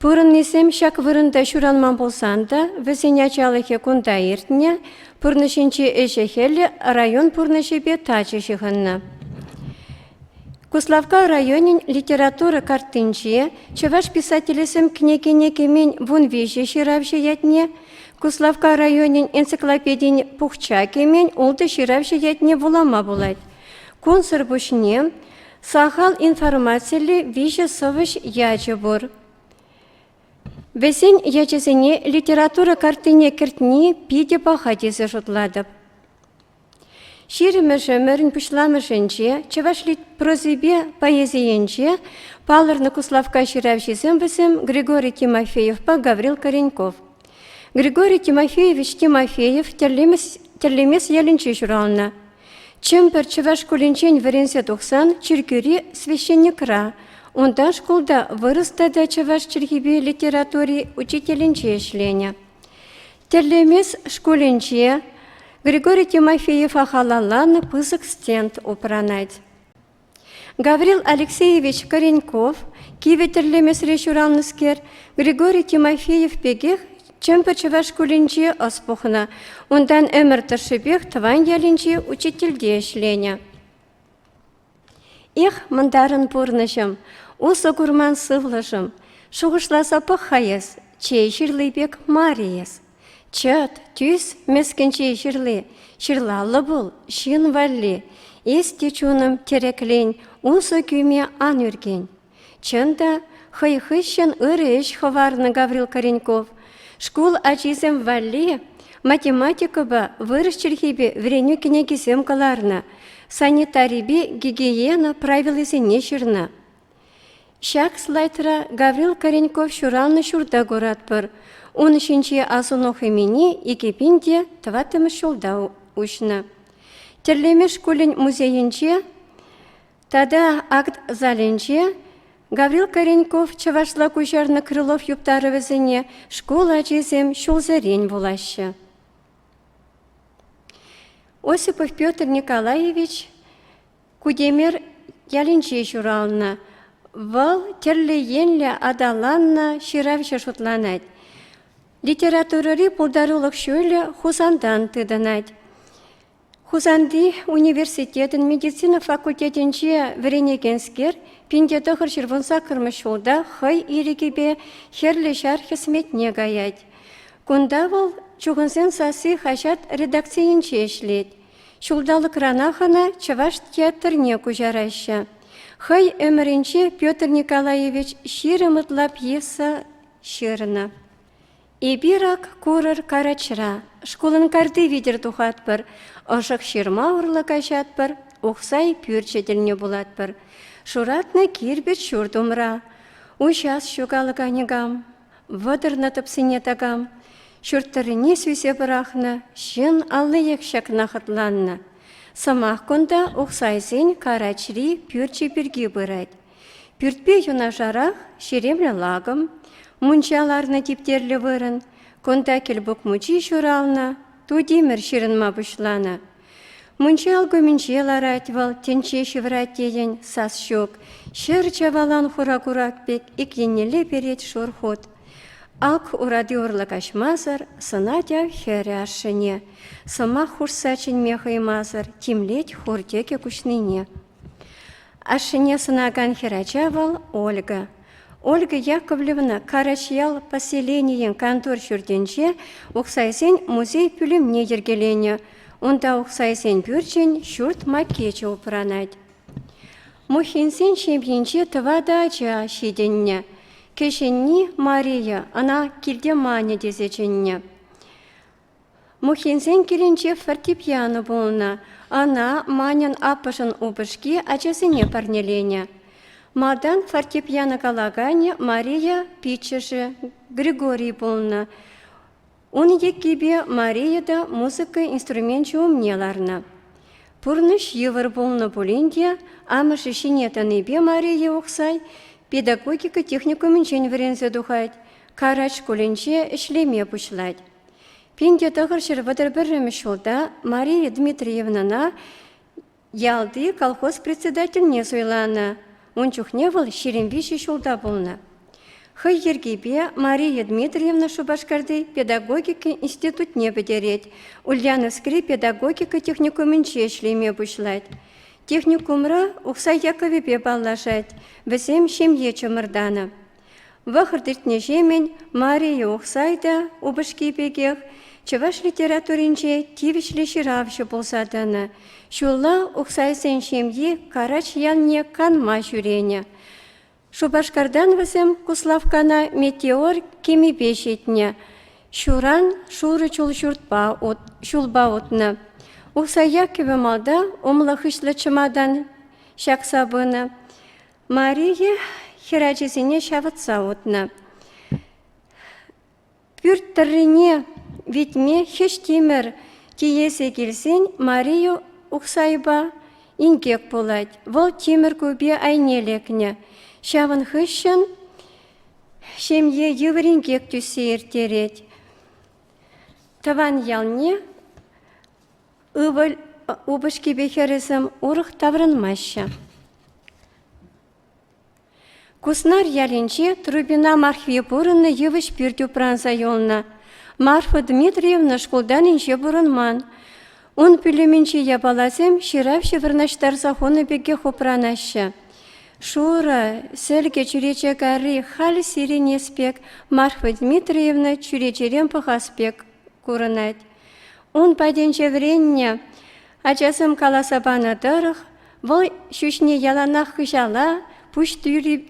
Пурӑннисем ҫак вырӑнта ҫуранман пулсан та вӗсен ачалӑхӗ кунта иртнӗ, пурнӑҫӗнчи ӗҫӗ-хӗлӗ район пурнӑҫӗпе тачӑ ҫыхӑннӑ. Куславкка районӗн литература картинче чӑваш писателӗсем кӗнекене кӗмен вун виҫӗ ҫыравҫӑ ятне, Куславкка районӗн энциклопедин пухча кӗмен ултӑ ҫыравҫӑ ятне вулама пулать. Кунсӑр пуҫне Сахал информациллӗ виҫӗ сӑвӑҫ ячӗ пур. Вӗсен ячӗсене литература картине кӗртни питӗ паха тесе шутлатӑп. Ҫирӗммӗш ӗмӗрӗн пуҫламӑшӗнче чӑваш прозипе поэзийӗнче палӑрнӑ куславкка ҫыравҫисем вӗсем Григорий Тимофеевпа Гаврил Кореньков. Григорий Тимофеевич Тимофеев тӗрлемес, тӗрлемес ялӗнче ҫуралнӑ. Чӗмпӗр чӑваш шкулӗнчен вӗренсе тухсан чиркӳри священникра, унтан шкулта вырӑс тата чӑваш чӗлхипе литератури учителӗнче ӗҫленӗ. Тӗрлемес шкулӗнче Григорий Тимофеева халалланӑ пысӑк стенд упранать. Гаврил Алексеевич Кореньков кивӗ тӗрлемесре ҫуралнӑскер Григорий Тимофеев пекех Чӗмпӗр чӑваш шкулӗнче ӑс пухнӑ. Унтан ӗмӗр тӑршшӗпех тӑван ялӗнче учительте ӗҫленӗ. Эх, мӑнтарӑн пурнӑҫӑм, усӑ курман сывлӑшӑм, шухӑшласа пӑх-ха эс, чей ҫырли пек мар эс. Чӑт, тӳс мӗскӗнчи ҫырли ҫырлаллӑ пул, ҫын валли. Эс те чунӑм тӗреклен, усӑ кӳме ан ӳркен. Чӑн та, хӑй хыҫҫӑн ырӑ ӗҫ хӑварнӑ Гаврил Кореньков. Шкул ачисем валли математикӑпа, вырӑс чӗлхипе вӗренӳ кӗнекисем кӑларнӑ, санитарипе гигиена правилисене ҫырнӑ. Ҫак слайдра Гаврил Кореньков ҫуралнӑ ҫурта куратпӑр. Ун ҫинче асӑну хӑмине икӗ пин те тӑваттӑмӗш ҫулта уҫнӑ. Тӗрлемеш шкулӗн музейӗнче тата акт залӗнче Гаврил Кореньков чӑвашла куҫарнӑ Крылов юптарӑвӗсене шкул ачисем ҫулсерен вулаҫҫӗ. Осипов Петр Николаевич Кутемер ялӗнче ҫуралнӑ. Вӑл тӗрлӗ енлӗ аталаннӑ ҫыравҫӑ шутланать. Литературӑри пултарулӑх ҫулӗ Хусантан тытӑнать. Хусанти университетӑн медицина факультетӗнче вӗренекенскер пинте тӑхӑр ҫурвун саккӑрмӗш ҫулта хӑй ирӗкӗпе хӗрлӗ ҫар хӗсметне каять. Кунта вӑл «Чухӑнсен сасси» хаҫат редакцийӗнче ӗҫлет. Ҫулталӑкранах ӑна Чӑваш театрне куҫараҫҫӗ. Хӑй ӗмӗрӗнче Петр Николаевич ҫирӗм ытла пьеса ҫырнӑ. Эпир ак курӑр карачра, шкулӑн карти витӗр тухатпӑр, ӑшӑк ҫырма урлӑ каҫатпӑр, ухсай пӳрчӗ тӗлне пулатпӑр. Шуратнӑ кирпӗч ҫурт умра. Уҫас ҫукалӑка никам, Вӑтӑрнӑ тӑпсине такам ҫурт тӑррине сӳсе пӑрахнӑ ҫын аллиех ҫакна хӑтланнӑ. Сӑмах кунта Ухсайсен Карачри пӳрчӗ пирки пырать. Пӳртпе юнашарах ҫеремлӗ лакӑм, мунча ларнӑ типтерлӗ вырӑн, кунта Кӗлпук мучи ҫуралнӑ, тутимӗр ҫырӑнма пуҫланӑ. Мунча алкумӗнче ларать вӑл, тӗнче ҫывӑрать тетӗн, сас ҫук. Ҫӗр чавалан хура курак пек ик еннелле перет шур хут. Ак урати урлӑ каҫмасӑр сӑнать ав хӗрӗ ашшӗне. Сӑмах хушса чӗнме хӑймасӑр тимлет хур тӗкӗ куҫнине. Ашшӗне сӑнакан хӗрача вӑл Ольга. Ольга Яковлевна Карачьял поселенийӗн кантор ҫуртӗнче ухсайсен музей пӳлӗмне йӗркеленӗ. Унта ухсайсен пӳрчӗн ҫурт макечӗ упранать. Мухинсен ҫемйинче тӑватӑ ача ҫитӗннӗ. Кӗҫӗнни Мария, ӑна килте Маня тесе чӗннӗ. Мухинсен килӗнче фортепиано пулнӑ. Ӑна Маньӑн аппӑшӗн упӑшки ачасене парнеленӗ. Малтан фортепиано калаканӗ Мария пиччӗшӗ Григорий пулнӑ. Ун еккипе Мария та музыка инструменчӗ умне ларнӑ. Пурнӑҫ йывӑр пулнӑ пулин те амӑшӗ ҫине тӑнипе Мария Ухсай педагогика техникумӗнчен вӗренсе тухать, Карач шкулӗнче ӗҫлеме пуҫлать. Пин те тӑхӑр ҫӗр вӑтӑр пӗрремӗш ҫулта Мария Дмитриевнӑна ялти колхоз председательне суйланӑ. Ун чухне вӑл ҫирӗм виҫӗ ҫулта пулнӑ. Хӑй йӗркипе Мария Дмитриевна Шупашкарти педагогика институтне пӗтерет, Ульяновскри педагогика техникумӗнче ӗҫлеме пуҫлать. Техникумра Ухсай Яковӗпе паллашать, вӗсем ҫемье чӑмӑртанӑ. Вӑхӑт иртнӗҫемӗн Мария Ухсайта упӑшки пекех чӑваш литературинче тивӗҫлӗ ҫыравҫӑ пулса тӑнӑ. Ҫулла Ухсайсен ҫемйи Карач ялне канма ҫӳренӗ. Шупашкартан вӗсем Куславккана метеор кемипе ҫитнӗ. Ҫуран шурӑ чул ҫуртпа ут, ҫулпа утнӑ. Ухсай Яккӑвӗ малта умлӑ-хыҫлӑ чӑматан ҫакса пынӑ. Мария хӗр ачисене ҫавӑтса утнӑ. Пӳрт тӑррине витме хӗҫтимӗр тиесе килсен Мария Ухсайпа инкек пулать. Вӑл тимӗр купи айне лекнӗ. Ҫавӑн хыҫҫӑн ҫемье йывӑр инкек тӳссе ирттерет. Тӑван ялне Упӑшкипе хӗрӗсем урӑх таврӑнмаҫҫӗ. Куснар ялӗнче Трубина Мархви пурӑннӑ йывӑҫ пӳрт упранса юлнӑ. Марфа Дмитриевна шкултан инҫе пурӑнман. Ун пӳлӗмӗнчи япаласем ҫыравҫӑ вырнаҫтарса хунӑ пекех упранаҫҫӗ. Шурӑ, сӗлкӗ чӳрече карри халь сирӗнес пек, Марфа Дмитриевна чӳречерен пӑхас пек курӑнать. Ун патӗнче вӗреннӗ ачасем каласа панӑ тӑрӑх, вӑл ҫӳҫне яланах хыҫала пуҫ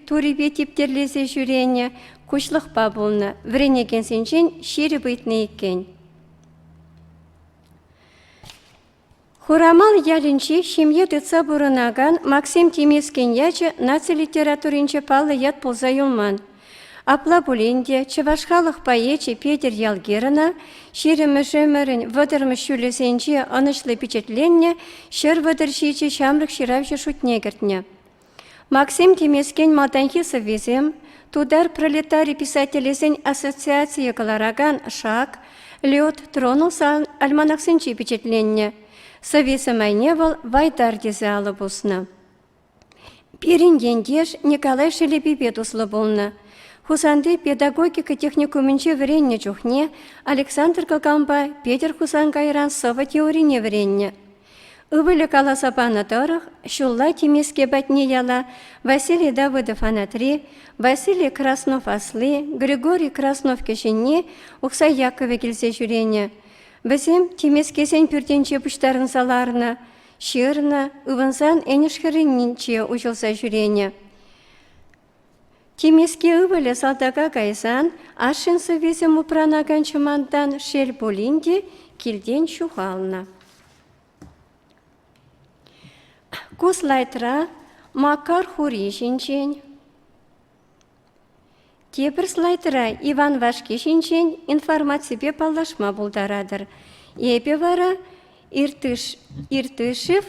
турипе типтерлесе ҫӳренӗ, куҫлӑхпа пулнӑ, вӗренекенсенчен ҫирӗп ыйтнӑ иккен. Хурамал ялӗнчи ҫемье тытса пурӑнакан Максим Тимескен ячӗ наци литературинче паллӑ ят пулса юлман. Апла пулин те чӑваш халӑх поэчӗ Петӗр Ялгирӑна ҫирӗммӗш ӗмӗрӗн вӑтӑрмӗш ҫулӗсенче ӑнӑҫлӑ пичетленнӗ ҫӗр вӑтӑр ҫичӗ ҫамрӑк ҫыравҫӑ шутне кӗртнӗ. Максим Тимескен малтанхи сӑввисем, тутар пролетари писателӗсен ассоциацийӗ кӑларакан «Шак», «Лед» тронулсан альманахсенче пичетленнӗ. Сӑвви самайне вӑл «Вайтар» тесе алӑ пуснӑ. Пирӗн ентеш Николай Шелепипе туслӑ пулнӑ. Хусанти педагогика техникумӗнче вӗреннӗ чухне Александр Коканпа Петӗр Хусан кайран сӑвӑ теорине вӗреннӗ. Ывӑлӗ каласа панӑ тӑрӑх, ҫулла Тимеске патне яла Василий Давыдов анатри, Василий Краснов асли, Григорий Краснов кӗҫӗнни Ухсай Яковӗ килсе ҫӳренӗ. Вӗсем Тимескесен пӳртӗнче пуҫтарӑнса ларнӑ. Ҫырнӑ, ывӑнсан Энӗш хӗрринче уҫӑлса ҫӳренӗ. Тимеске ывӑлӗ салтака кайсан ашшӗн сӑввисем упранакан чӑмантан шел пулин те килтен ҫухалнӑ. Ку слайдра Макар хури ҫинчен Тепӗр слайдра Иван вашки ҫинчен информаципе паллашма пултаратӑр. Эпӗ вара Иртыш, Иртышев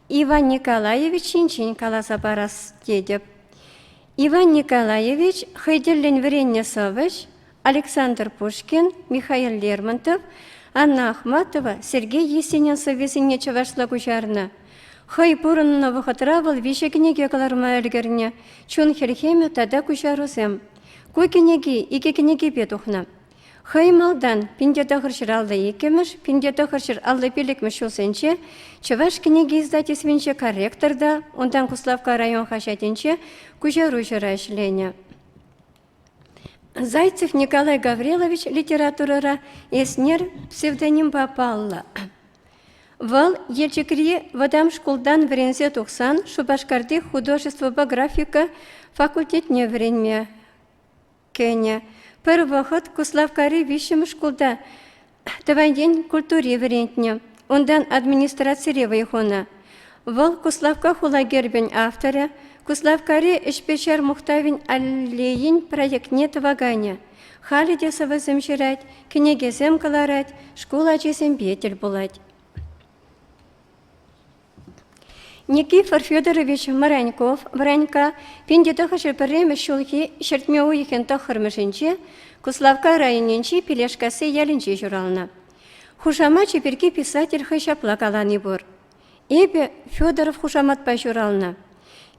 Иван Николаевич ҫинчен каласа парас тетӗп. Иван Николаевич хӑй тӗллӗн вӗреннӗ сӑвӑҫ Александр Пушкин, Михаил Лермонтов, Анна Ахматова Сергей Есенин сӑввисене чӑвашла куҫарнӑ. Хӑй пурӑннӑ вӑхӑтра вӑл виҫӗ кӗнеке кӑларма ӗлкӗрнӗ, чун хӗлхемӗ тата куҫарусем. Ку кӗнеки икӗ кӗнекепе тухнӑ. Хӑй малтан пин те тӑхӑрҫӗр алли иккӗмӗш, пин те тӑхӑрҫӗр алли пиллӗкмӗш ҫулсенче Чӑваш кӗнеке издательствинче корректор та, унтан Куславкка район хаҫатӗнче куҫаруҫӑра ӗҫленӗ. Зайцев Николай Гаврилович литературӑра Эснер псевдонимпа паллӑ. Вӑл Елчӗкри вӑтам шкултан вӗренсе тухсан Шупашкарти художествӑпа графика факультетне вӗренме кӗнӗ. Пӗр вӑхӑт Куславккари виҫҫӗмӗш шкулта тӑван ен культури вӗрентнӗ, унтан администрацире вӑй хунӑ. Вӑл Куславкка хула гербӗн авторӗ, Куславккари ӗҫпе-ҫар мухтавӗн аллейин проектне тӑваканӗ. Халӗ те сӑвӑсем ҫырать, кӗнекесем кӑларать, шкул ачисемпе тӗл пулать. Никифор Федорович Мренков Вренка пин тӑхӑҫӗ пӗрремӗш ҫулхи ҫӗртме уйӑхӗн тӑххӑрмӗшӗнче Куславкка районӗнчи Пилешкасси ялӗнче ҫуралнӑ. Хушамачӗ пирки писатель хӑй ҫапла калани пур. Эпӗ Федоров хушаматпа ҫуралнӑ.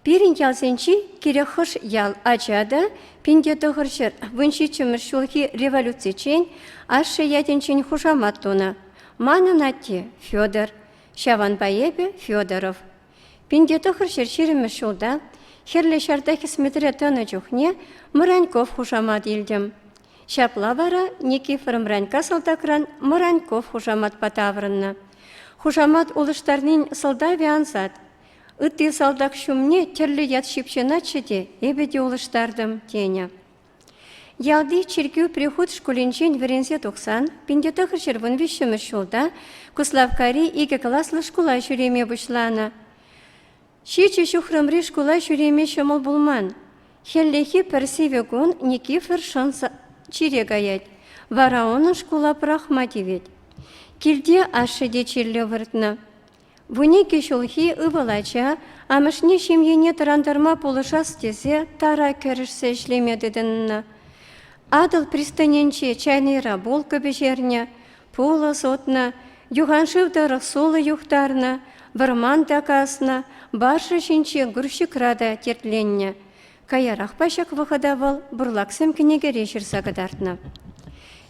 Пирӗн ялсенчи кирек хӑш ял ача та пин те тӑхӑрҫӗр вун ҫиччӗмӗш ҫулхи революциччен ашшӗ ятӗнчен хушамат тунӑ. Манӑн атте Федор, Ҫавӑнпа эпӗ, Федоров, пинте тӑхӑр ҫӗр ҫирӗммӗш ҫулта Хӗрлӗ Ҫарта хӗсметре тӑнӑ чухне Мӑраньков хушамат илтӗм. Ҫапла вара Никифор Мранька салтакран Мӑраньков хушаматпа таврӑннӑ. Хушамат улӑштарнин сӑлтавӗ ансат. Ытти салтак ҫумне тӗрлӗ ят ҫыпҫӑнатчӗ те эпӗ те улӑштартӑм, тенӗ. Ялти чиркӳ прихут шкулӗнчен вӗренсе тухсан пин-тӑхӑрҫӗр вун виҫҫӗмӗш ҫулта Куславккари икӗ класлӑ шкула ҫӳреме пуҫланӑ. Ҫичӗ ҫухрӑмри шкула ҫӳреме ҫӑмӑл пулман. Хӗллехи пӗр сивӗ кун Никифор шӑн чире каять, вара унӑн шкула пӑрахма тивет. Килте ашшӗ те чирлӗ выртнӑ. Вуникӗ ҫулхи ывӑл ача амӑшне ҫемьене тӑрантарма пулӑшас тесе тара кӗрӗшсе ӗҫлеме тытӑннӑ. Атӑл пристанӗнче чайнӑйра булка пӗҫернӗ, пулӑ сутнӑ, юханшыв тӑрӑх сулӑ юхтарнӑ, вӑрман та каснӑ, баржа ҫинче грузчикра та тертленнӗ. Каярахпа ҫак вӑхӑта вӑл бурлаксем кӗнекере ҫырса кӑтартнӑ.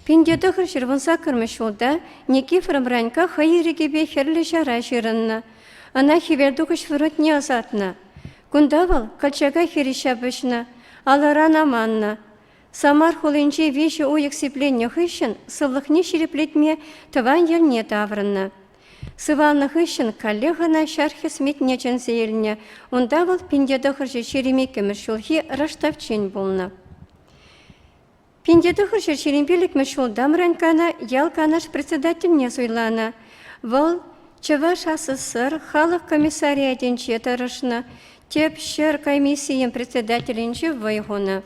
Пин те тӑхӑр ҫырвунсаккӑрмӗш ҫулта Никифоров Ранька хӑй ирӗкӗпе Хӗрлӗ Ҫара ҫырӑннӑ. Ӑна хӗвелтухӑҫ фронтне ӑсатнӑ. Кунта вӑл Колчака хирӗҫ ҫапӑҫнӑ, алӑран аманнӑ. Самар хулинче виҫӗ уйӑх сипленнӗ хыҫҫӑн сывлӑхне ҫирӗплетме тӑван йӗлне таврӑннӑ. Сывалнӑ хыҫҫӑн каллех ӑна ҫар хӗсметне чӗнсе илнӗ. Унта вӑл пинте тӑхӑрҫӑ ҫирӗм иккӗмӗш ҫулхи рӑштавччен пулнӑ. Пинте тӑхӑрҫӑ ҫирӗм пиллӗкмӗш ҫул Дамранькана ял канаш председательне суйланӑ. Вӑл Чӑваш СССР халӑх комиссариатӗнче тӑрӑшнӑ, тӗп ҫӗр комиссийӗн председателӗнче вӑй хунӑ.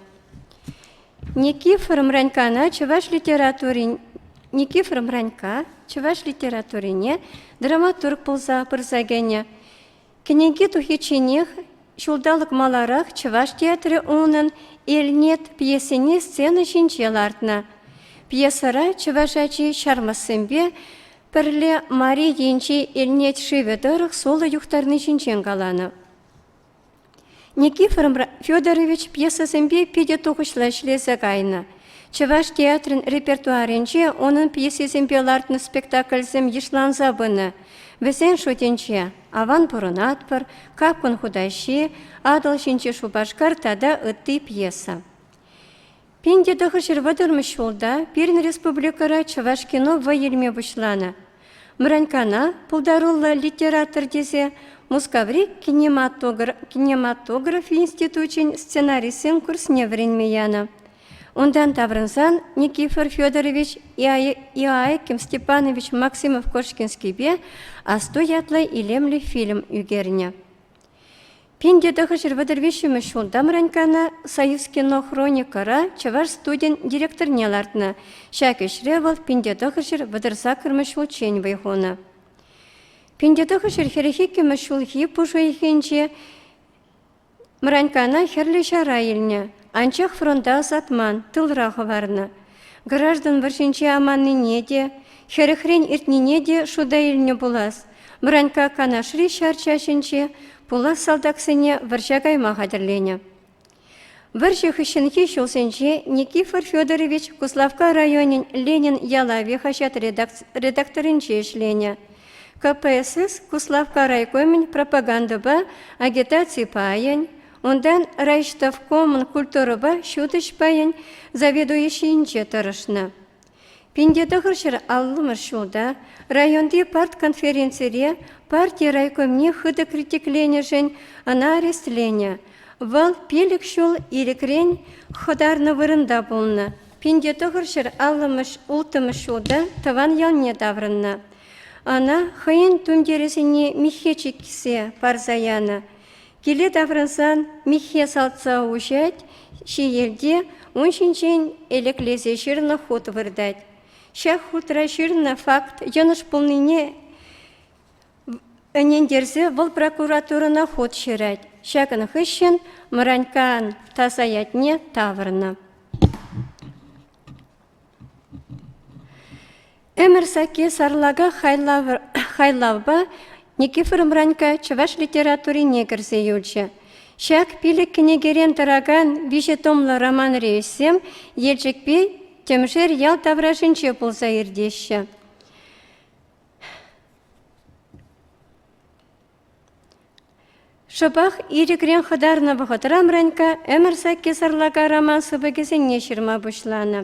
Никифор Мранькана чӑваш литературин Никифор Мранька чӑваш литературине драматург пулса пырса кӗнӗ. Кӗнеки тухичченех ҫулталӑк маларах чӑваш театрӗ унӑн Элнет пьесине сцена ҫинче лартнӑ. Пьесӑра чӑваш ачи ҫармӑссемпе пӗрле Мари енчи Элнет шывӗ тӑрӑх сулӑ юхтарни ҫинчен каланӑ. Никифор Федорович пьесӑсемпе питӗ тухӑҫлӑ ӗҫлесе кайнӑ. Чӑваш театрӗн репертуарӗнче унӑн пьесисемпе лартнӑ спектакльсем йышланса пынӑ. Вӗсен шутӗнче «Аван пурӑнатпӑр», «Капкӑн хутаҫи», «Атӑл ҫинчи Шупашкар» тата ытти пьеса. Пин те тӑхӑр вӑтӑрмӗш ҫулта пирӗн республикӑра чӑваш кино вӑй илме пуҫланӑ. Мранькана пултаруллӑ литератор тесе Мускаври кинематограф институчӗн сценаристсен курсне вӗренме янӑ. Унтан таврӑнсан Никифор Федорович Иоаким Степанович Максимов-Кошкинскийпе Асто ятлӑ илемлӗ фильм ӳкернӗ. Пин тӑхӑҫӑр вӑтӑр виҫҫӗмӗш ҫулта Мраньккана Союзкинохроникӑра чӑваш студийӗн директорне лартнӑ. Ҫак ӗҫре вӑл пинтетӑхӑҫӑр вӑтӑрсаккӑрмӗш ҫулччен вӑй хунӑ. Пинтетӑхӑҫӑр хӗрӗх иккӗмӗш ҫулхи пуш уйӑхӗнче Мраньккана Хӗрлӗ Ҫара илнӗ. Анчах фронта ӑсатман, тылра хӑварнӑ. Граждан вӑрҫинче аманнине те, хӗрӗхрен иртнине те шута илнӗ пулас. Бранька Канашри ҫар чаҫӗнче пулас салтаксене вӑрҫа кайма хатӗрленӗ. Вӑрҫӑ хыҫҫӑнхи ҫулсенче Никифор Федорович Куславкка районӗн Ленин ялавӗ хаҫат редакторӗнче ӗҫленӗ. КПСС Куславкка райкомӗн пропагандӑпа агитаци пайӗн, Унтан райҫтӑвкомӑн культурӑпа ҫутӗҫ пайӗн заведующийӗнче тӑрӑшнӑ. Пинте тӑхӑрҫӗр аллӑмӗш ҫулта районти партконференцире парти райкомне хытӑ критикленӗшӗн ӑна арестленӗ. Вӑл пилӗк ҫул ирӗкрен хӑтарнӑ вырӑнта пулнӑ. Пинте тӑхӑрҫӗр аллӑмӗш улттӑмӗш ҫулта тӑван ялне таврӑннӑ. Ӑна хӑйӗн тумтирӗсене миххе чиксе парса янӑ. Киле таврӑнсан Миххе салтса уҫать, ҫиелте ун ҫинчен элеклесе ҫырнӑ хут выртать. Ҫак хутра ҫырнӑ факт йӑнӑш пулнине ӗнентерсе вӑл прокуратурӑна хут ҫырать. Ҫакӑн хыҫҫӑн Мӑраньккан таса ятне тавӑрнӑ. Ӗмӗр сакки сарлака хайлавпа Никифор Мранька чӑваш литературине кӗрсе юлчӗ. Ҫак пилӗк кӗнекерен тӑракан виҫӗ томлӑ роман-рейссем Елчӗкпе Тӗмшер ял таврашӗнче пулса иртеҫҫӗ. Шӑпах ирӗкрен хӑтарнӑ вӑхӑтра Мранькка ӗмӗр сакки сарлака роман сыпӑкӗсене ҫырма пуҫланӑ.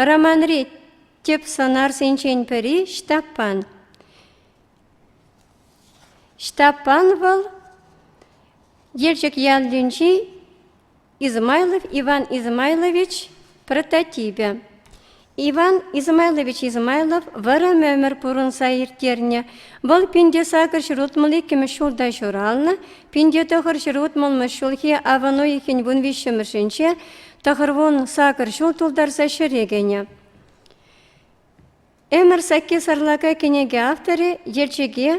Романри тӗп сӑнарсенчен пӗри – Ҫтаппан. Ҫтаппан вӑл Елчӗк ялӗнчи Измайлов Иван Измайлович прототипӗ. Иван Измайлович Измайлов вӑрӑм ӗмӗр пурӑнса ирттернӗ. Вӑл пинте сакӑр ҫул утмӑл иккӗмӗш ҫулта ҫуралнӑ. Пинте тӑхӑр ҫул утмӑлмӗш ҫулхи авӑн уйӑхӗн вун виҫҫӗмӗшӗнче тӑхӑр вун сакӑр ҫул тултарса ҫӗре кӗнӗ. Ӗмӗр сакки сарлака кӗнеке авторӗ, елчӗке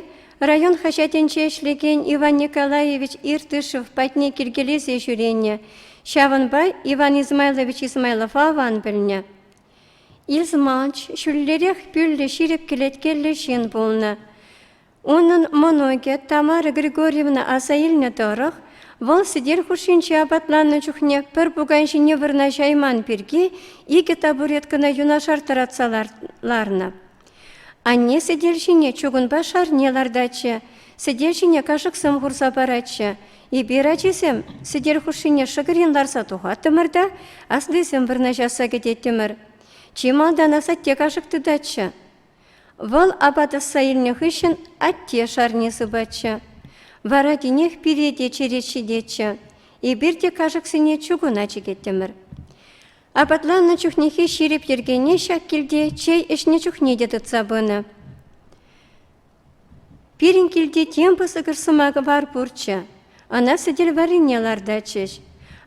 район хаҫатӗнче ӗҫлекен Иван Николаевич Иртышев патне килкелесе ҫӳренӗ. Ҫавӑнпа Иван Измайлович Измайлов аван пӗлнӗ. Изманч ҫӳллӗрех пӳллӗ ҫирӗп кӗлеткеллӗ ҫын пулнӑ. Унӑн мӑнукӗ Тамара Григорьевна аса илнӗ тӑрӑх, вӑл сӗтел хушшинче апатланнӑ чухне пӗр пукан ҫине вырнаҫайман пирки икӗ табуреткӑна юнашар тӑратса ларнӑ. Анне сӗтел ҫине чугунпа шарне лартатчӗ, сӗтел ҫине кашӑксем хурса паратчӗ. Эпир, ачисем, сӗтел хушшине шӑкӑрин ларса тухаттӑмӑр та аслисем вырнаҫасса кӗтеттӗмӗр. Чи малтан асатте кашӑк тытатчӗ. Вӑл апат ӑсса илнӗ хыҫҫӑн атте шарне сыпатчӗ. Вара тинех пире те черет ҫитетчӗ. Эпир те кашӑксене чугуна чикеттӗмӗр. Апатланнӑ чухнехи ҫирӗп йӗркене ҫак килте чей ӗҫнӗ чухне те тытса пынӑ. Пирӗн килте тем пысӑкӑш сӑмаквар пурччӗ. Ӑна сӗтел варрине лартатчӗҫ.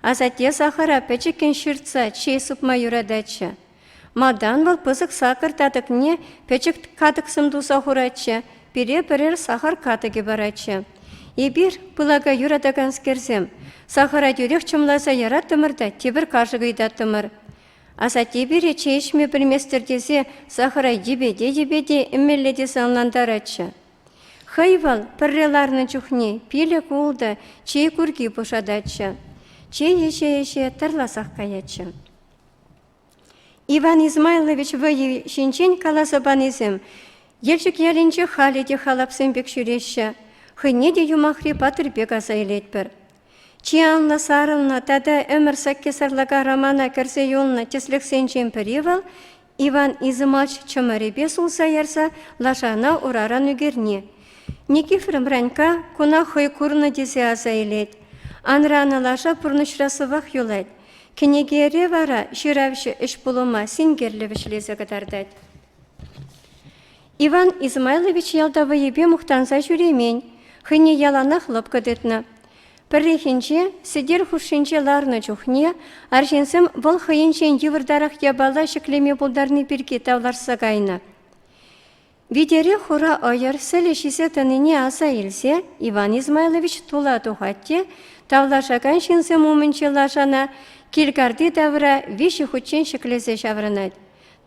Асатте сахӑра пӗчӗккӗн ҫыртса чей сыпма юрататчӗ. Малтан вӑл пысӑк сакӑр татӑкне пӗчӗк катӑксем туса хуратчӗ, пире пӗрер сахар катӑкӗ паратчӗ. Эпир, пылака юратаканскерсем, сахара тӳрех чӑмласа яраттӑмӑр та тепӗр кашӑк ыйтаттӑмӑр. Асатте пире чей ӗҫме пӗлместӗр тесе сахара йӗпете-йӗпете ӗмелле тесе ӑнлантаратчӗ. Хӑй вӑл пӗрре ларнӑ чухне пилӗк-ултӑ чей курки пушататчӗ. Чей ӗҫе-ӗҫе тӑрласах каятчӗ. Иван Измайлович вӑйӗ ҫинчен каласа панисем Елчӗк ялӗнче халӗ те халапсем пек ҫӳреҫҫӗ. Хӑйне те юмахри патӑр пек аса илетпӗр. Чи анлӑ сарӑлнӑ тата ӗмӗр сакки сарлака романа кӗрсе юлнӑ тӗслӗхсенчен пӗри вӑл Иван Измач чӑмӑрӗпе сулса ярса лашана ураран ӳкерни. Никифор Бранька куна хӑй курнӑ тесе аса илет. Анранӑ лаша пурнӑҫра сывах юлать. Кӗнекере вара ҫыравҫӑ ӗҫ-пулӑма синкерлӗ вӗҫлесе кӑтартать. Иван Измайлович ялта вӑйӗпе мухтанса ҫӳремен, хӑйне яланах лӑпкӑ тытнӑ. Пӗррехинче сӗтел хушшинче ларнӑ чухне арҫынсем вӑл хӑйӗнчен йывӑртарах япала ҫӗклеме пултарни пирки тавлашса кайнӑ. Витере хура ӑйӑр сӗлӗ ҫисе тӑнине аса илсе Иван Измайлович тула тухать те тавлашакан ҫынсем умӗнчи лашана килкарти тавра виҫӗ хутчен ҫӗклесе ҫаврӑнать.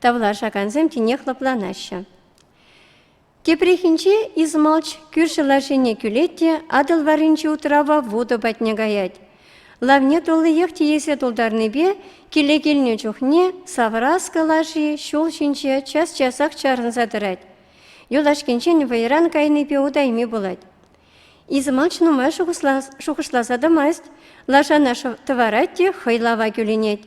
Тавлашакансем тинех лӑпланаҫҫӗ. Тепрехинче Измалч кӳршӗ лашине кӳлет те Атӑл варринчи утрава вутӑ патне каять. Лавне туллиех тиесе тултарнипе киле килнӗ чухне Савраскӑ лаши ҫул ҫинче час-часах чарӑнса тӑрать. Юлашкинчен вӑйран кайнипе утайми пулать. Измач нумай шухӑшласа тӑмасть, лашана тӑварать те хӑй лава кӳлӗнет.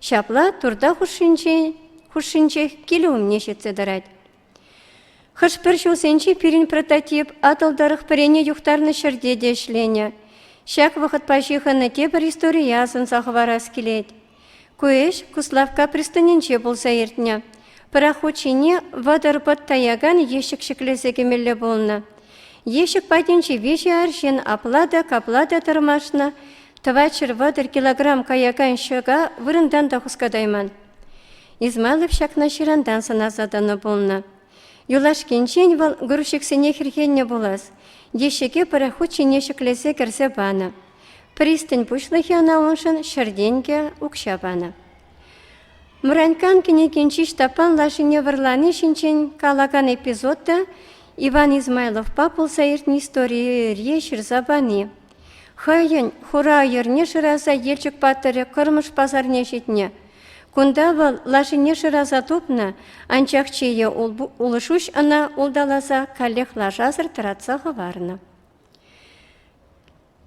Ҫапла турта хушшинчех килӗ умне ҫитсе тӑрать. Хӑш-пӗр ҫулсенче пирӗн прототип Атӑл тӑрӑх пӗрене юхтарнӑ ҫӗрте те ӗҫленӗ. Ҫак вӑхӑтпа ҫыхӑннӑ тепӗр историе асӑнса хӑварас килет. Ку ӗҫ Куславкка пристанӗнче пулса иртнӗ. Пӑрахут ҫине вӑтӑр пӑт таякан ещӗк ҫӗклесе кӗмелле пулнӑ. Ещӗк патӗнче виҫӗ арҫын апла та, капла та тӑрмашнӑ, тӑватҫӗр-вӑтӑр килограмм каякан ҫӑка вырӑнтан та хускатайман. Измайлов ҫакна ҫырантан сӑнаса тӑнӑ пулнӑ. Юлашкинчен вӑл грузчиксене хӗрхеннӗ пулас, деҫӗке пӑрахут ҫине ҫӗклесе кӗрсе панӑ. Пристань пуҫлӑхӗ ӑна уншӑн ҫӗр тенкӗ, укҫа панӑ. Мраньккан кӗнекинчи Ҫтаппан лашине вӑрлани ҫинчен калакан эпизод та Иван Измайловпа пулса иртнӗ историе ҫырса пани Хӑйӗн хура йӗрне шыраса Елчӗк патӑрӗ Кӑрмӑш пасарне ҫитнӗ. Кунта вӑл лашине шыраса тупнӑ, анчах чейе улшуҫ ӑна улталаса каллех лашасӑр тӑратса хӑварнӑ.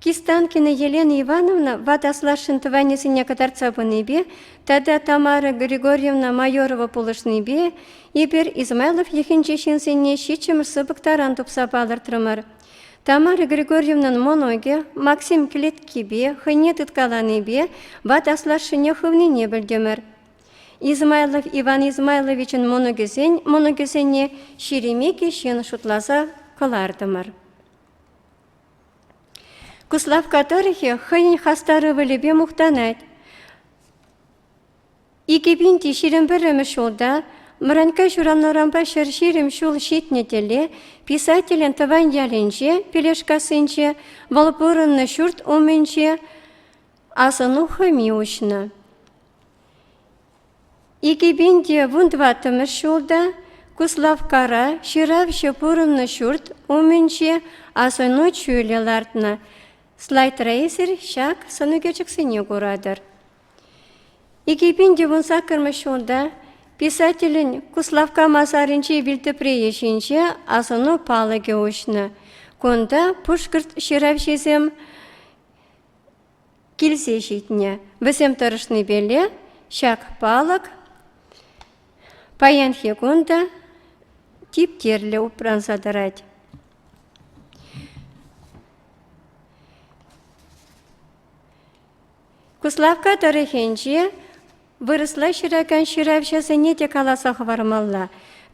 Кистанкина Елена Ивановна ватас лашин тӑванӗсене кӑтартса пынипе тата Тамара Григорьевна Майорова пулӑшнипе эпир Измайлов йӑхӗнчи ҫынсене ҫиччӗмӗш сыпӑк таран тупса палӑртрӑмӑр. Тамара Григорьевнӑн мӑнукӗ Максим кӗлеткипе хӑйне тыткаланипе ват аслашшӗне хывнине пӗлтӗмӗр. Измайлов Иван Измайловичӑн мӑнукӗсен мӑнукӗсене Шеремеке ҫын шутласа кӑлартӑмӑр. Куславкка тӑрӑхӗ хӑйӗн хастар ывӑлӗпе мухтанать. Икӗ пин те ҫирӗм пӗрремӗш ҫулта Мӑранькка ҫуран-урампа ҫӗр ҫирӗм ҫул ҫитнӗ тӗле писателӗн тӑван ялӗнче, Пелешкассинче, вӑл пурӑннӑ ҫурт умӗнче асӑну хӑми уҫнӑ. Икӗ пин те вун тӑваттӑмӗш ҫулта Куславккара ҫыравҫӑ пурӑннӑ ҫурт умӗнче асӑну чулӗ лартнӑ. Слайд-рейсер ҫак сӑнӳкерчӗксене куратӑр. Икӗ пин ювен саккӑрмӗш унта писателӗн Куславкка масарӗнчи вилтӑприйӗ ҫинче асӑну палӑкӗ уҫнӑ. Кунта пушкӑрт ҫыравҫисем килсе ҫитнӗ. Вӗсем тӑрӑшнипеле ҫак палӑк паянхи кун та типтерлӗ упранса тӑрать. Куславкка тӑрӑхӗнче вырӑсла ҫыракан ҫыравҫӑсене те каласа хӑвармалла.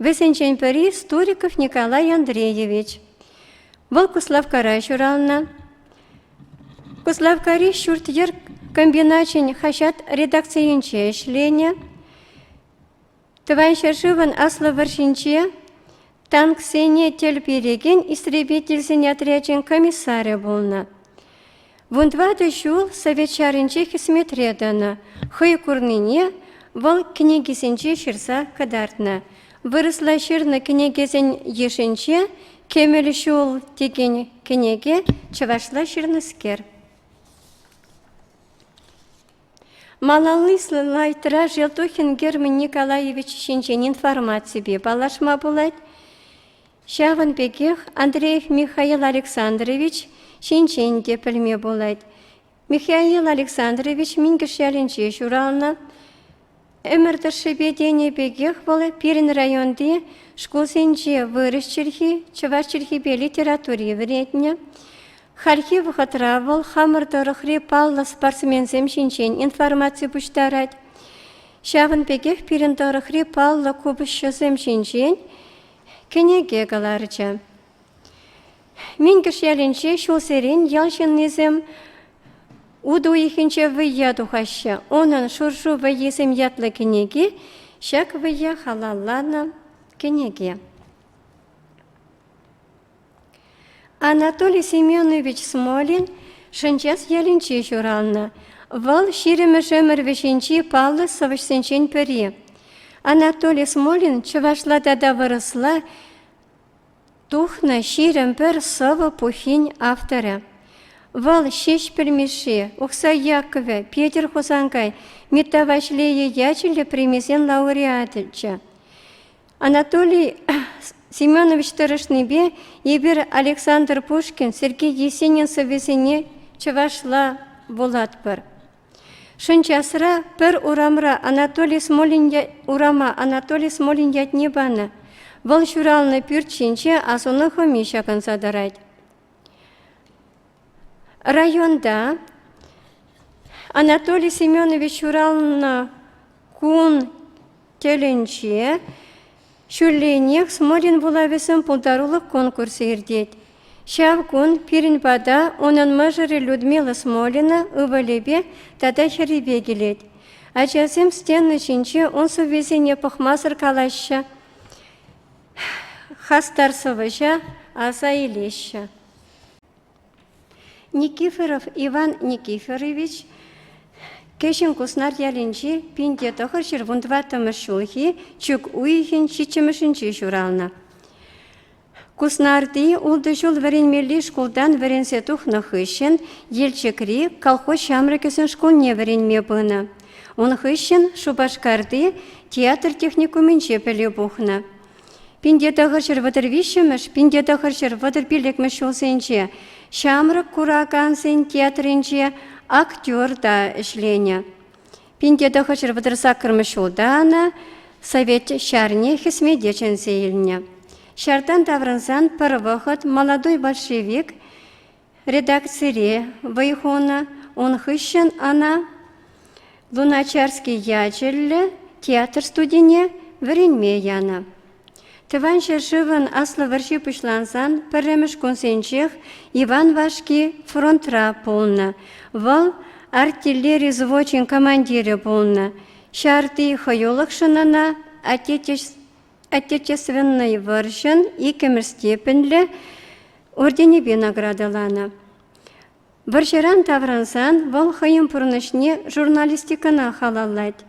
Вӗсенчен пӗри Стуриков Николай Андреевич. Вӑл Куславккара ҫуралнӑ. Куславккари ҫурт-йӗр комбиначӗн хаҫат редакцийӗнче ӗҫленӗ. Тӑван ҫӗршывӑн Аслӑ вӑрҫинче танксене тӗл перекен истребительсен отрячӗн комиссарӗ пулнӑ. Вун тӑватӑ ҫул Совет ҫарӗнче хӗсметре тӑнӑ. Хӑй курнине вӑл кӗнекисенче ҫырса кӑтартнӑ. Вырӑсла ҫырнӑ кӗнекесен йышӗнче «Кемел ҫул» текен кӗнеке чӑвашла ҫырнӑскер. Малалли слайдра Желтухин Герман Николаевич ҫинчен информаципе паллашма пулать. Ҫавӑн пекех Андреев Михаил Александрович ҫинчен те пӗлме пулать. Михаил Александрович Минкӗш ялӗнче ҫуралнӑ. Ӗмӗр тӑршшӗпе тенӗ пекех вӑл пирӗн районти шкулсенче вырӑс чӗлхи, чӑваш чӗлхипе литератури вӗрентнӗ. Хальхи вӑхӑтра вӑл хамӑр тӑрӑхри паллӑ спортсменсем ҫинчен информаци пуҫтарать. Ҫавӑн пекех пирӗн тӑрӑхри паллӑ купӑсҫӑсем ҫинчен кӗнеке кӑларчӗ. Минкӗш ялӗнче ҫулсерен ял ҫыннисем утӑ уйӑхӗнче вӑййа тухаҫҫӗ. Унӑн «Шуршу вӑййисем» ятлӑ кӗнеки ҫак вӑййа халалланӑ кӗнеке. Анатолий Семенович Смолин Шӗнчас ялӗнче ҫуралнӑ. Вӑл ҫирӗммӗш ӗмӗр вӗҫӗнчи паллӑ сӑвӑҫсенчен пӗри. Анатолий Смолин чӑвашла тата вырӑсла Тухнӑ ҫирӗм пӗр сӑвӑ пуххин авторӗ. Вӑл Ҫеҫпӗл Мишши, Ухсай Яккӑвӗ, Петӗр Хусанкай, Митта Ваҫлейӗ ячӗллӗ премисен лауреачӗ. Анатолий Семенович тӑрӑшнипе эпир Александр Пушкин, Сергей Есенин сӑввисене чӑвашла вулатпӑр. Шӑнчасра пӗр урамра Анатолий Смолин урама Анатолий Смолин ятне панӑ. Вӑл ҫуралнӑ пӳрт ҫинче асӑну хӑми ҫакӑнса тӑрать. Районта Анатолий Семенович ҫуралнӑ кун Тӗлӗнче ҫулленех Смолин вулавӗсем пултарулӑх конкурсӗ иртет. Ҫав кун пирӗн пата унӑн мӑшӑрӗ Людмила Смолина ывӑлӗпе тата хӗрӗпе килет. Ачасем стена ҫинче ун сӑввисене пӑхмасӑр калаҫҫӗ, хастар сӑвӑҫа аса илеҫҫӗ. Никифоров Иван Никифорович Кӗҫӗн Куснар ялӗнчи пинте тӑхӑр ҫыр вун тӑваттӑмӗш ҫулхи чӳк уйӑхӗн ҫиччӗмӗшӗнче ҫуралнӑ. Куснарти ултӑ ҫул вӗренмелли шкултан вӗренсе тухнӑ хыҫҫӑн Елчӗкри колхоз ҫамрӑкӗсен шкулне вӗренме пынӑ. Ун хыҫҫӑн Шупашкарти театр техникумӗнче пӗлӳ пухнӑ. Пинте тӑхӑр ҫӗр вӑтӑр виҫҫӗмӗш, пинте тӑхӑр ҫӗр вӑтӑр пиллӗкмӗш ҫулсенче ҫамрӑк куракансен театрӗнче актер та ӗҫленӗ. Пинте тӑхӑр ҫӗр вӑтӑр саккӑрмӗш ҫулта ӑна Совет ҫарне хӗсмете чӗнсе илнӗ. Ҫартан таврӑнсан пӗр вӑхӑт молодой большевик Редакцире вӑй хунӑ, ун хыҫҫӑн ӑна Луначарский ячӗллӗ театр студине вӗренме янӑ. Тӑван ҫӗршывӑн Аслӑ вӑрҫи пуҫлансан пӗрремӗш кунсенчех Иван Вашки фронтра пулнӑ. Вӑл артиллери взвочӗн командирӗ пулнӑ. Ҫарти хӑюлӑхшӑн ӑна Отечество Отечественнӑй вӑрҫӑн иккӗмӗш степеньлӗ орденӗпе наградӑланӑ. Вӑрҫӑран таврӑнсан вӑл хӑйӗн пурнӑҫне журналистикӑна халаллать.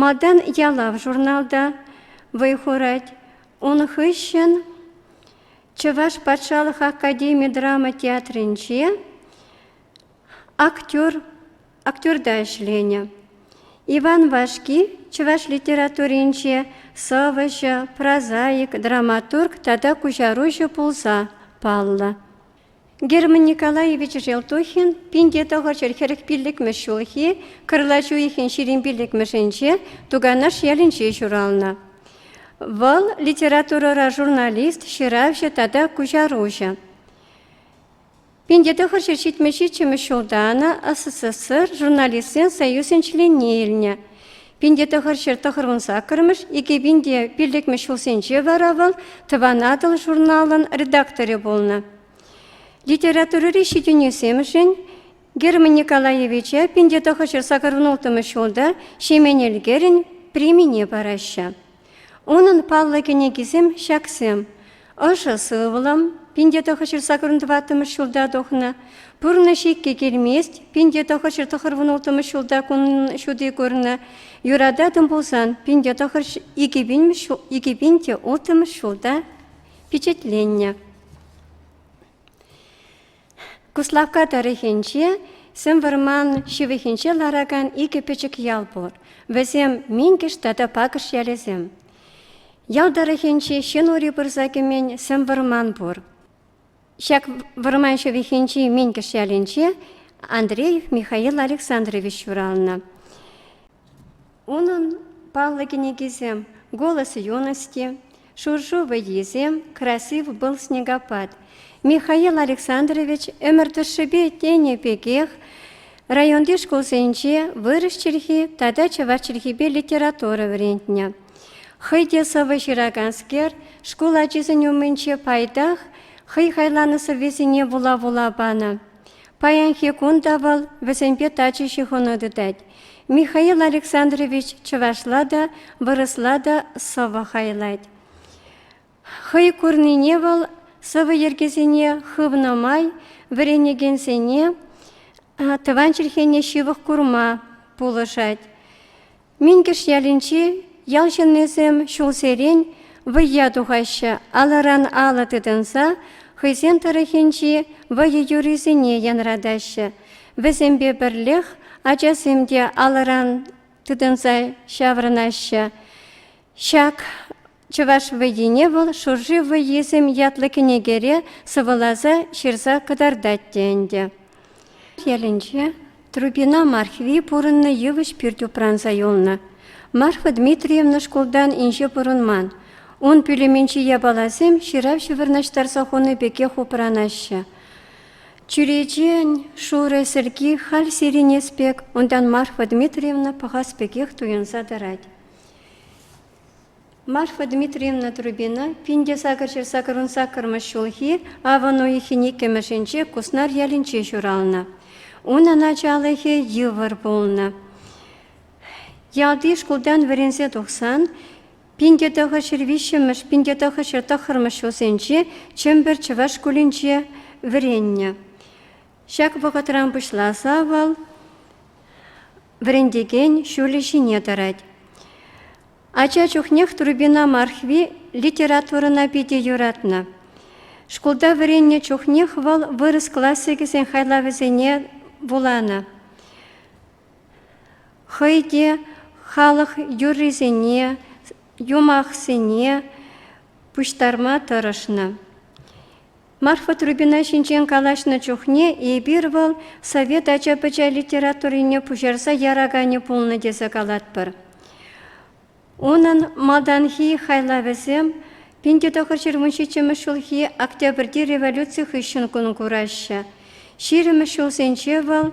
Малтан «Ялав» журналта вӑй хурать. Ун хыҫҫӑн Чӑваш патшалӑх академи драма театрӗнче актер актерта ӗҫленӗ. Иван Вашки чӑваш литературинче сӑвӑҫӑ, прозаик, драматург тата куҫаруҫӑ пулса паллӑ. Герман Николаевич Желтухин пинте тӑхӑрҫӗр хӗрӗх пиллӗкмӗш ҫулхи кӑрлач уйӑхӗн ҫирӗм пиллӗкмӗшӗнче Туганаш ялӗнче ҫуралнӑ. Вӑл литературӑра журналист, ҫыравҫӑ тата куҫаруҫӑ. Пин тӑхӑр ҫул ҫитмӗл-ҫиччӗмӗш ҫулта ӑна СССР журналистсен союзӗн членне илнӗ. Пин тӑхӑр ҫул тӑхӑрмӗш саккӑрмӗш, икӗ пин те пиллӗкмӗш ҫулсенче вара вӑл Тӑван Атӑл журналӑн редакторӗ пулнӑ. Литературӑри ҫитӗнӳсемшӗн Герман Николаевича пин тӑхӑр ҫул сакӑр улттӑмӗш ҫулта Ҫемен Элкерӗн премине параҫҫӗ. Унӑн паллӑ кӗнекисем ҫаксем, Ӑшӑ сывлӑм, пин те тӑхӑр ҫырса курӑн тӑваттӑмӗш ҫулта тухнӑ, Пурнӑҫ иккӗ килмест, пин те тӑхӑр ҫыр тӑхӑр вунулттӑмӗш ҫулта кунӑн ҫути курнӑ, Юрататӑн пулсан, пин те тӑхӑр икӗ пин те улттӑмӗш ҫулта пичетленнӗ. Куславкка тӑрӑхӗнче сӗм вӑрман ҫывӑхӗнче ларакан икӗ пӗчӗк ял пур. Вӗсем Минкӗш тата Пакӑш ялӗсем. Ял тӑрӑхӗнче ҫын ури пырса кӗмен сӗм вӑрман пур. Ҫак вӑрман ҫывӑхӗнчи Минкӗш ялӗнче Андреев Михаил Александрович ҫуралнӑ. Унӑн паллӑ кӗнекисем Голос юности, Шуршу вӑййисем, Красив был снегопад, Михаил Александрович ӗмӗр тӑршшӗпе тенӗ пекех районти шкулсенче вырӑс чӗлхи тата чӑваш чӗлхипе литература вӗрентнӗ. Хӑй те сӑвӑ ҫыраканскер шкул ачисен умӗнче пайтах хӑй хайланӑ сӑввисене вула-вула панӑ. Паянхи кун та вӑл вӗсемпе тачӑ ҫыхӑну тытать. Михаил Александрович чӑвашла та, вырӑсла та сӑвӑ хайлать. Хӑй курнине вӑл сӑвӑ йӗркисене хывнӑ май вӗренекенсене тӑван чӗлхене ҫывӑх курма пулӑшать. Минкӗш ялӗнчи ял ҫыннисем ҫулсерен вӑййа тухаҫҫӗ, алӑран алӑ тытӑнса хӑйсен тӑрӑхӗнчи вӑйӑ юррисене янратаҫҫӗ. Вӗсемпе пӗрлех ачасем те алӑран тытӑнса ҫаврӑнаҫҫӗ. Ҫак Чӑваш вӑййине вӑл Шурши вӑййисем ятлӑ кӗнекере сӑвӑласа ҫырса кӑтартать те ӗнтӗ. Ялӗнче Трубина Мархви пурӑннӑ йывӑҫ пӳрт упранса юлнӑ. Марфа Дмитриевна шкултан инҫе пурӑнман. Ун пӳлӗмӗнчи япаласем ҫыравҫӑ вырнаҫтарса хунӑ пекех упранаҫҫӗ. Чӳречен шурӑ сӗрки халь сирӗнес пек, унтан Марфа Дмитриевна пӑхас пекех туйӑнса тӑрать. Марфа Дмитриевна Трубина пин те сакӑрҫӗр-сакӑрӑн саккӑрмӗш ҫулхи авӑн уйӑхӗн иккӗмӗшӗнче Куснар ялӗнче ҫуралнӑ. Унӑн ачалӑхӗ йывӑр пулнӑ. Ялти шкултан вӗренсе тухсан пин те тӑхӑҫҫӗр виҫҫӗмӗш, пин те тӑхӑҫҫӗр тӑххӑрмӗш ҫулсенче Чӗмпӗр чӑваш шкулӗнче вӗреннӗ. Ҫак вӑхӑтран пуҫласа вӑл вӗрентекен ҫулӗ ҫине тӑрать. Ача чухнех Турбина Мархви литературӑна питӗ юратнӑ. Шкулта вӗреннӗ чухнех вӑл вырӑс классикӗсен хайлавӗсене вуланӑ. Хӑй те халӑх юррисене, юмахсене пуҫтарма тӑрӑшнӑ. Марфа Трубина ҫинчен калаҫнӑ чухне эпир вӑл совет ача-пӑча литературине пуҫарса яраканӗ пулнӑ тесе калатпӑр. Унӑн малтанхи хайлавӗсем пин те тӑхӑр ҫырмун ҫиччӗмӗш ҫулхи Октябрьти революци хыҫҫӑн кун кураҫҫӗ. Ҫирӗмӗш ҫулсенче вӑл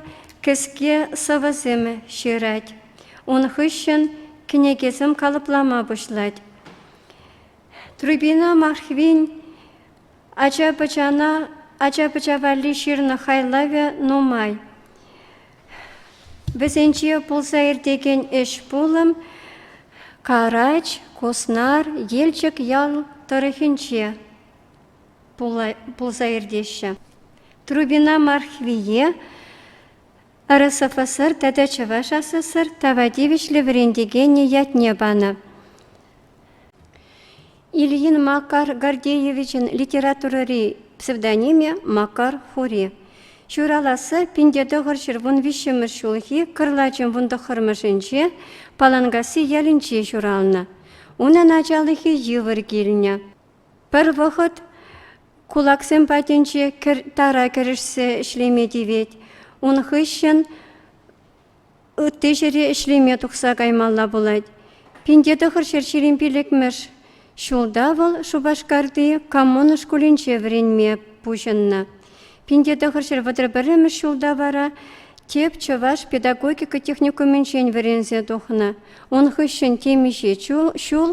кӗске сӑвӑсем ҫырать. Ун хыҫҫӑн кӗнекесем калӑплама пуҫлать. Трубина Махвин Ача-пӑча валли ҫырнӑ хайлавӗ нумай. Вӗсенче пулса иртекен ӗҫ-пулӑм Карач, Куснар, Елчӗк ял тӑрӑхӗнче пулса иртеҫҫӗ. Трубина Мархвие РСФСР тата Чӑваш СССР тава тивӗҫлӗ вӗрентекенӗ ятне панӑ. Ильин Макар Гордеевичӑн литературӑри псевдонимӗ Макар Хури. Ҫураласси пинте тӑхӑр ҫурвун виҫҫӗмӗш ҫулхи кӑрлачӑн вун тӑххӑрмӗшӗнче Паланкасси ялӗнче ҫуралнӑ. Унӑн ачалӑхӗ йывӑр килнӗ. Пӗр вӑхӑт кулаксем патӗнче кӗр, тара кӗрӗшсе ӗҫлеме тивет. Ун хыҫҫӑн Ытти ҫӗре ӗҫлеме тухса каймалла пулать. Пинте тӑхӑр ҫӗр ҫирӗм пиллӗкмӗш ҫулта вӑл Шупашкарти Коммуна шкулӗнче вӗренме пуҫӑннӑ. Пинте тӑхӑр ҫӗр вӑтӑр пӗрремӗш ҫулта вара тӗп чӑваш педагогика техникумӗнчен вӗренсе тухнӑ. Ун хыҫҫӑн темиҫе ҫул, ҫул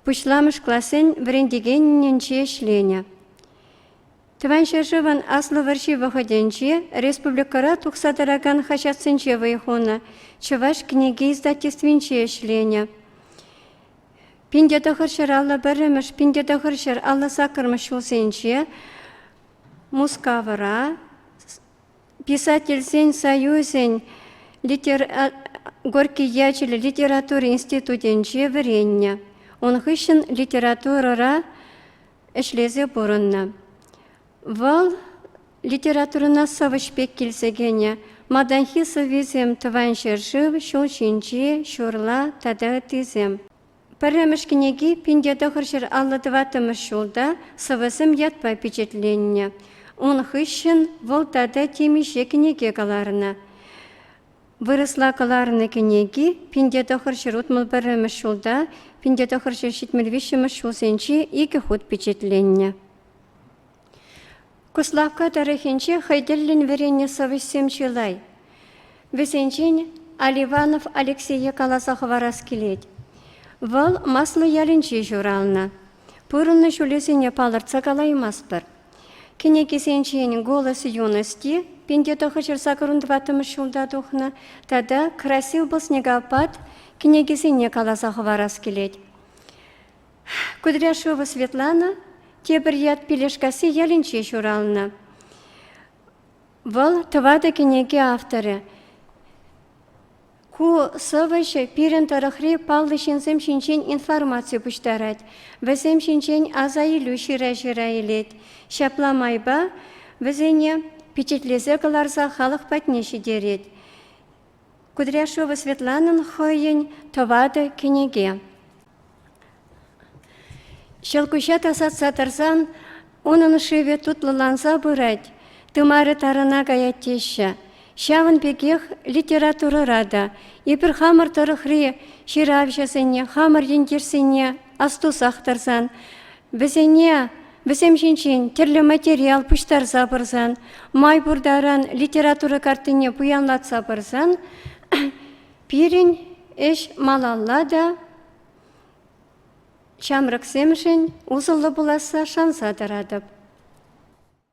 пуҫламӑш классен вӗрентекенӗнче ӗҫленӗ. Тӑван ҫӗршывӑн Аслӑ вӑрҫи вӑхӑтӗнче республикӑра тухса тӑракан хаҫатсенче вӑй хунӑ, Чӑваш кӗнеке издательствинче ӗҫленӗ. Пин те тӑхӑр ҫӗр аллӑ пӗрремӗш, пин те тӑхӑр ҫӗр аллӑ саккӑрмӗш ҫулсенче Мускавра Писательсен союзӗн литер... Горький ячӗллӗ литература институтӗнче вӗреннӗ. Ун хыҫҫӑн литературӑра ӗҫлесе пурӑннӑ. Вӑл литературӑна сӑвӑҫ пек килсе кӗнӗ. Малтанхи сӑввисем Тӑван ҫӗршыв, Ҫул ҫинчи, Ҫурла тата ыттисем. Пӗрремӗш кӗнеки пин те тӑхӑр ҫӗр аллӑ тӑваттӑмӗш ҫулта сӑвӑсем ятпа пичетленнӗ. Ун хыҫҫӑн вӑл тата темиҫе кӗнеке кӑларнӑ. Вырӑсла кӑларнӑ кӗнеки пин-те тӑхӑр ҫӗр утмӑл пӗрремӗш ҫулта, пин те тӑхӑр ҫӗр ҫитмӗл виҫҫӗмӗш ҫулсенчи икӗ хут пичетленнӗ. Куславкка тӑрӑхӗнче хӑй тӗллӗн вӗреннӗ сӑвӑҫсем чылай. Вӗсенчен Аливанов Алексее каласа хӑварас килет. Вӑл Маслӑ ялӗнче ҫуралнӑ. Пурӑннӑ ҫулӗсене палӑртса калаймастпӑр. Кӗнекисенчен «Голос юности» пинте тӑхӑҫырса кӑрун тӑваттӑмӗш ҫулта тухнӑ тата «Красив был снегопад» кӗнекисене каласа хӑварас килет. Кудряшова Светлана тепӗр ят Пилешкасси ялӗнче ҫуралнӑ. Вӑл тӑватӑ кӗнеке авторӗ. Ку сӑвӑҫӑ пирӗн тӑрӑхри паллӑ ҫынсем ҫинчен информаци пуҫтарать, вӗсем ҫинчен асаилӳ ҫыра-ҫыра илет. Ҫапла майпа вӗсене пичетлесе кӑларса халӑх патне ҫитерет. Кудряшова Светланӑн хӑйӗн тӑватӑ кӗнеке. Ҫӑлкуҫа тасатса тӑрсан унӑн шывӗ тутлӑланса пырать, тымарӗ тарӑна каять теҫҫӗ. Ҫавӑн пекех литературӑра та эпир хамӑр тӑрӑхри ҫыравҫӑсене, хамӑр ентешсене астусах тӑрсан, вӗсене вӗсем ҫинчен тӗрлӗ материал пуҫтарса пырсан, май пур таран литература картине пуянлатса пырсан Пирӗн ӗҫ малалла та ҫамрӑксемшӗн усӑллӑ пуласса шанса тӑратӑп.